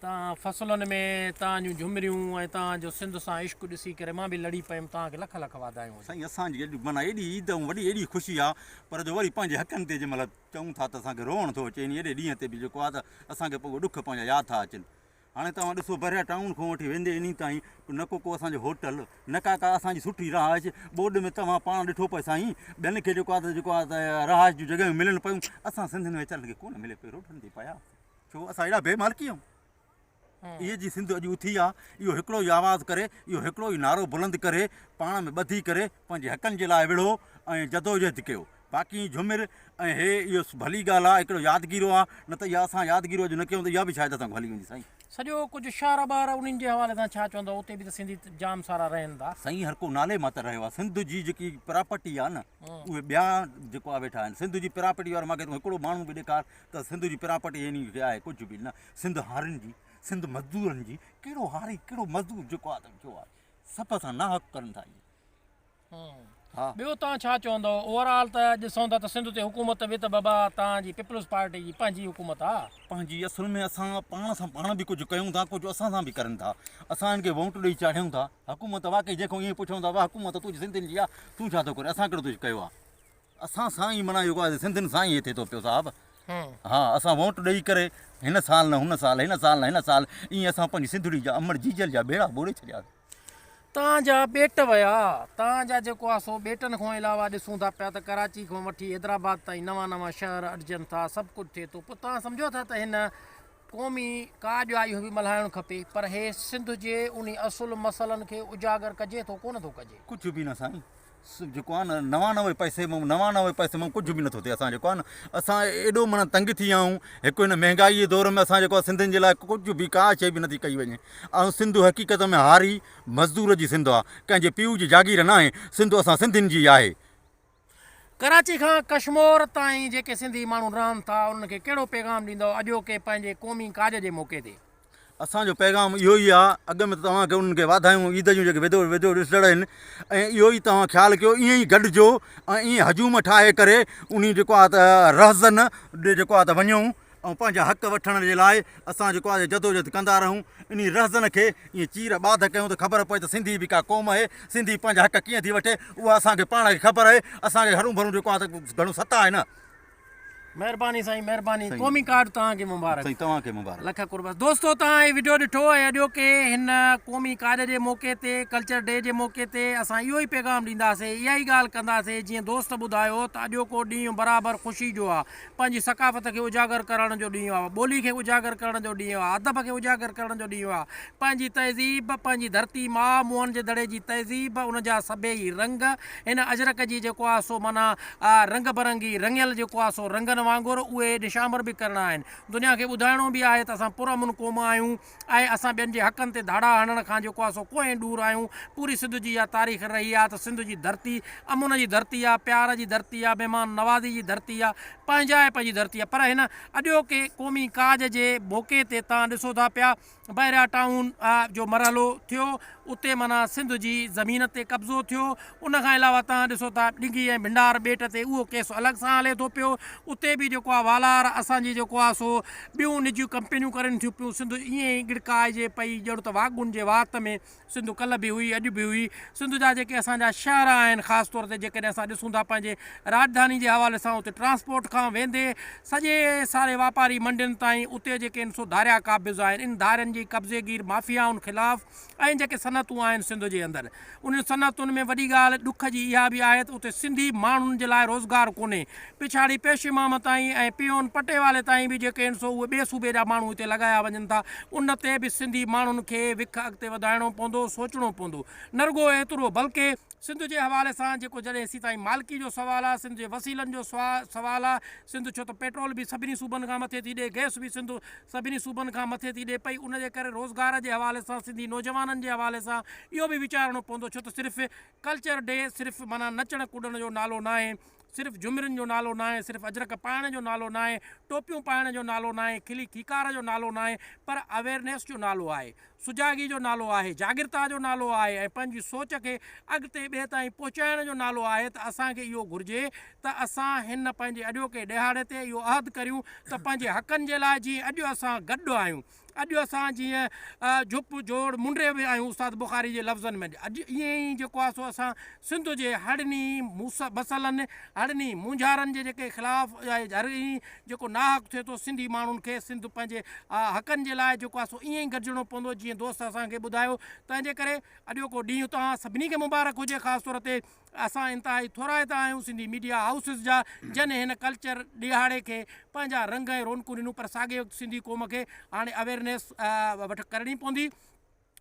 توهان فصلن ۾ توهان جون جهمريون ۽ توهان جو سنڌ سان عشق ڏسي ڪري مان به لڙي پيم توهان کي لک لک واڌايون هجن. سائين اسان جي اڄ معنيٰ ايڏي عيد ۽ وڏي ايڏي خوشي آ پر جو وري پنهنجي حقن تي جنهن مهل چئون ٿا ته اسان کي روئڻ ٿو اچي انهي اڏي ڏينهن تي به جيڪو آ ته اسان کي پڳو ڏک پنهنجا ياد ٿا اچن هاڻي توهان ڏسو بحريا ٽائون کان وٺي ويندي انهي تائين نه ڪو ڪو اسان جو هوٽل نه ڪا ڪا اسان جي سٺي رهائش ٻوڏ ۾ توهان پاڻ ڏٺو پئي سائين ٻين کي جيڪو آ ته جيڪو آ ته رهائش جون جڳهيون ملن پيون اسان سنڌين ويچارن کي ڪونه ملي پئي روڊن تي پيا ڇو اسان اهڙا بي مالڪي آهيون؟ اهي جي سنڌ اڄ اٿي آ، اهو هڪڙو ئي آواز ڪري، اهو هڪڙو ئي نعرو بلند ڪري، پاڻ ۾ ٻڌي ڪري، پنهنجي حقن جي لاء وڙهو ۽ جدوجهد ڪيو. باقي جهومر ۽ هي اهو ڀلي ڳالهه آ، هڪڙو يادگيرو آ، نه ته اها اسان يادگيرو اڄ نه ڪيون ته اها به شايد اسان کان هلي ويندي سائين. سڄو ڪجهه شعر ٻار انهن جي حوالي سان ڇا چوندؤ اتي به ته سنڌي جام سارا رهن ٿا. سائين هر ڪو نالي مان ته رهيو آ، سنڌ جي جيڪي پراپرٽي آ نه اهي ٻيا جيڪو آ ويٺا آهن، سنڌ جي پراپرٽي وارو ماکي تون هڪڙو ماڻهو به ڏيکار ته سنڌ جي پراپرٽي يعني ڪي آهي ڪجهه به نه، سنڌ هارين جي، سنڌ مزدورن جي، ڪهڙو هاري ڪهڙو مزدور جيڪو آهي ته جو آهي سڀ سان ناحق ڪرن ٿا اهي. ها. ٻيو تان ڇا چوندؤ اوور آل ته اڄ ڏسون ٿا ته سنڌ تي حڪومت به ته بابا تان جي پيپلز پارٽي جي پنهنجي حڪومت آ. پنهنجي اصل ۾ اسان پاڻ سان پاڻ به ڪجهه ڪيون ٿا ڪجهه اسان سان به ڪرن ٿا اسان هن کي وونٽ ڏئي چاڙهيون ٿا حڪومت واقعي جنهن کان ايئن پڇون ٿا وا حڪومت تنهنجي سنڌين جي آ تون ڇا ٿو ڪرين اسان ڪهڙو ڪجهه ڪيو آ. اسان سان ئي معنيٰ يوگا جي سنڌين سان ئي هي ٿئي ٿو پيو صاحب. ها اسان ووٽ ڏئي ڪري هن سال نه هن سال هن سال نه هن سال ائين اسان پنهنجي سنڌڙي جا امڙ جيجل جا ٻيڙا ٻوڙي ڇڏياسين. تان جا ٻيٽ ويا تان جا جيڪو آهي سو ٻيٽن کان علاوه ڏسون ٿا پيا ته ڪراچي کان وٺي حيدرآباد تائين نوان نوان شهر اڏجن ٿا سڀ ڪجهه ٿئي ٿو پوء تان سمجهو ٿا ته هن قومي ڪا ڄائي هوي ملهائڻ کپي پر هي سنڌ جي انهي اصل مسئلن کي اجاگر ڪجي ٿو ڪونه ٿو ڪجي. ڪجهه به نه سائين جيڪو آهي نه نوانوي پئسي مان نوانوي پئسي مان ڪجهه به نٿو ٿئي اسان جيڪو آهي نه اسان ايڏو معنيٰ تنگ ٿي ويا آهيون هڪ هن مهنگائي جي دور ۾ اسان جيڪو آهي سنڌين جي لاء ڪجهه به ڪا شيء به نٿي ڪئي وڃي ۽ سنڌ حقيقت ۾ هاري مزدور جي سنڌ آهي ڪنهن جي پيء جي جاگير ناهي سنڌ اسان سنڌين جي آهي. ڪراچي کان ڪشمور تائين جيڪي سنڌي ماڻهو رهن ٿا انهن کي ڪهڙو پيغام ڏيندؤ اڄوڪي پنهنجي قومي ڪاڄ جي موقعي تي؟ اسان جو پيغام اهو ئي آ اڳ ۾ ته توهان کي انهن کي واڌايون عيد جون جيڪي ويديو ويديو ڏسندڙ آهن ۽ اهو ئي توهان خيال ڪيو ائين ئي گڏجو ۽ ائين هجوم ٺاهي ڪري انهي جيڪو آ ته رهزن ڏي جيڪو آ ته وڃون ۽ پنهنجا حق وٺڻ جي لاء اسان جيڪو آهي جدوجھد ڪندا رهون انهي رهزن کي ائين چير ٻاڌ ڪيون ته خبر پوي ته سنڌي به ڪا قوم اهي سنڌي پنهنجا حق ڪيئن ٿي وٺي اها اسان کي پاڻ کي خبر اهي اسان کي هرون ڀرون جيڪو آهي ته گھڻو ستا آهي نه. مھرباني سائين مھرباني قومي ڪارڊ توھان کي مبارڪ سائين توھان کي مبارڪ لک قربان دوستو توھان ھي وڊيو ڏٺو ۽ اڄوڪي ھن قومي ڪارڊ جي موقعي تي ڪلچر ڊي جي موقعي تي اسان اھو ھي پيغام ڏينداسي اھا ھي ڳالھ ڪنداسي جيئن دوست ٻڌايو ته اڄوڪو ڏينھن برابر خوشي جو آ پنهنجي ثقافت کي اجاگر ڪرڻ جو ڏينهن آهي، ٻولي کي اجاگر ڪرڻ جو ڏينهن آهي، ادب کي اجاگر ڪرڻ جو ڏينهن آهي، پنهنجي تهذيب، پنهنجي ڌرتي ماء موهن جي دڙي جي تهذيب، ان جا سڀيئي رنگ، هن اجرڪ جي جيڪو آهي سو معنيٰ رنگ برنگي رڱيل جيڪو آهي سو رنگن وانگر اهي نشانور به ڪرڻا آهن، دنيا کي ٻڌائڻو به آهي ته اسان پرامن قوم آهيون، آهي، اسان ٻين جي حقن تي ڌاڙا هڻڻ کان جيڪو آهي سو ڪوهين ڏور آهيون، پوري سنڌ جي اها تاريخ رهي آهي ته سنڌ جي ڌرتي امن جي ڌرتي آهي، پيار جي ڌرتي آهي، مهمان نوازي جي ڌرتي آهي، پنهنجائپ جي ڌرتي آهي پر هن اڄوڪي قومي ڪاڄ جي موقعي تي تان ڏسو ٿا پيا بحريا ٽائون جو مرحلو ٿيو اتي معنيٰ سنڌ جي زمين تي قبضو ٿيو. ان کان علاوه توهان ڏسو ٿا ڊگهي ۽ ڀنڊار ٻيٽ تي اهو ڪيس الڳ سان هلي ٿو پيو. اتي به جيڪو آهي والار اسان جي جيڪو آهي سو ٻيون نجيون ڪمپنيون ڪرين ٿيون پيون. سنڌ ائين ئي ڳڙڪائجي پئي ڄڻ ته واڳون جي وات ۾ سنڌ ڪلهه به هئي اڄ به هئي. سنڌ جا جيڪي اسان جا شهر آهن خاص طور تي جيڪڏهن اسان ڏسون ٿا پنهنجي راڄڌاني جي حوالي سان اتي ٽرانسپورٽ کان ويندي سڄي ساري واپاري منڊين تائين اتي جيڪي ان سو ڌاريا قابض آهن ان ڌارين جي قبضي گير مافيائن خلاف ۽ جيڪي صنعتون آهن سنڌ جي اندر انهن صنعتن ۾ وڏي ڳالهه ڏک جي اها به آهي ته اتي سنڌي ماڻهن جي لاء روزگار ڪونهي پڇاڙي پيش امام تائين ۽ پيون پٽيوالي تائين به جيڪي ان سو اهي ٻئي صوبي جا ماڻهو هتي لڳايا وڃن ٿا ان تي به سنڌي ماڻهن کي وک اڳتي وڌائڻو پوندو سوچڻو پوندو نه رڳو ايترو بلڪه سنڌ جي حوالي سان جيڪو جڏهن سي تائين مالڪي جو سوال آ، سنڌ جي وسيلن جو سوال آ، سنڌ ڇو ته پيٽرول به سڀني صوبن کان مٿي ٿي ڏي، گئس به سنڌ سڀني صوبن کان مٿي ٿي ڏي پئي، ان جي ڪري روزگار جي حوالي سان سنڌي نوجوانن جي حوالي سان اهو به ويچارڻو پوندو ڇو ته صرف ڪلچر ڊي صرف معنيٰ نچڻ ڪڏڻ جو نالو ناهي، صرف جهمرين جو نالو ناهي، صرف اجرڪ پائڻ جو نالو ناهي، ٽوپيون پائڻ جو نالو ناهي، کلي کيڪار جو نالو ناهي پر اويرنيس جو نالو آهي، سجاڳي جو نالو آهي، جاڳرتا جو نالو آهي ۽ پنهنجي سوچ کي اڳتي ٻئي تائين پهچائڻ جو نالو آهي ته اسان کي اهو گهرجي ته اسان هن پنهنجي اڄوڪي ڏهاڙي تي اهو عهد ڪريون ته پنهنجي حقن جي لاء جيئن اڄ اسان گڏ آهيون اڄ اسان جيئن جھپ جوڙ منڊي به آهيون استاد بخاري جي لفظن ۾، اڄ ائين ئي جيڪو آهي سو اسان سنڌ جي هڙني مسئلن، هڙني مونجهارن جي جيڪي خلاف ۽ هر ائين جيڪو ناحق ٿئي ٿو سنڌي ماڻهن کي سنڌ پنهنجي حقن جي لاء جيڪو آهي سو ائين ئي گڏجڻو پوندو جيئن دوست اسان کي ٻڌايو تنهنجي ڪري اڄوڪو ڏينهن توهان سڀني کي مبارڪ هجي خاص طور تي اسان انتهائي ٿورائتا آهيون سنڌي ميڊيا هائوسز جا جن هن ڪلچر ڏيهاڙي کي پنهنجا رنگ ۽ رونقون ڏنون پر ساڳئي وقت سنڌي قوم کي هاڻي اويرنيس وٺ ڪرڻي پوندي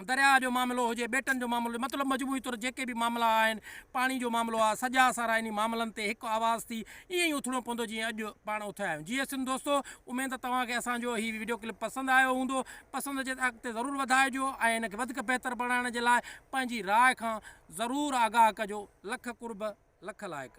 درياهه جو معاملو هجي ٻيٽن جو معاملو مطلب مجموعي طور جيڪي به معاملا آهن پاڻي جو معاملو آهي سڄا سارا انهي معاملن تي هڪ آواز ٿي ائين ئي اٿڻو پوندو جيئن اڄ پاڻ اٿيا آهيون جي سنڌ دوستو اميد ته توهان کي اسان جو هي ويڊيو ڪلپ پسند آيو هوندو پسند اچي ته اڳتي ضرور وڌائجو ۽ هن کي وڌيڪ بهتر بڻائڻ جي لاء پنهنجي راء کان ضرور آگاهه ڪجو لک قرب لک لائق.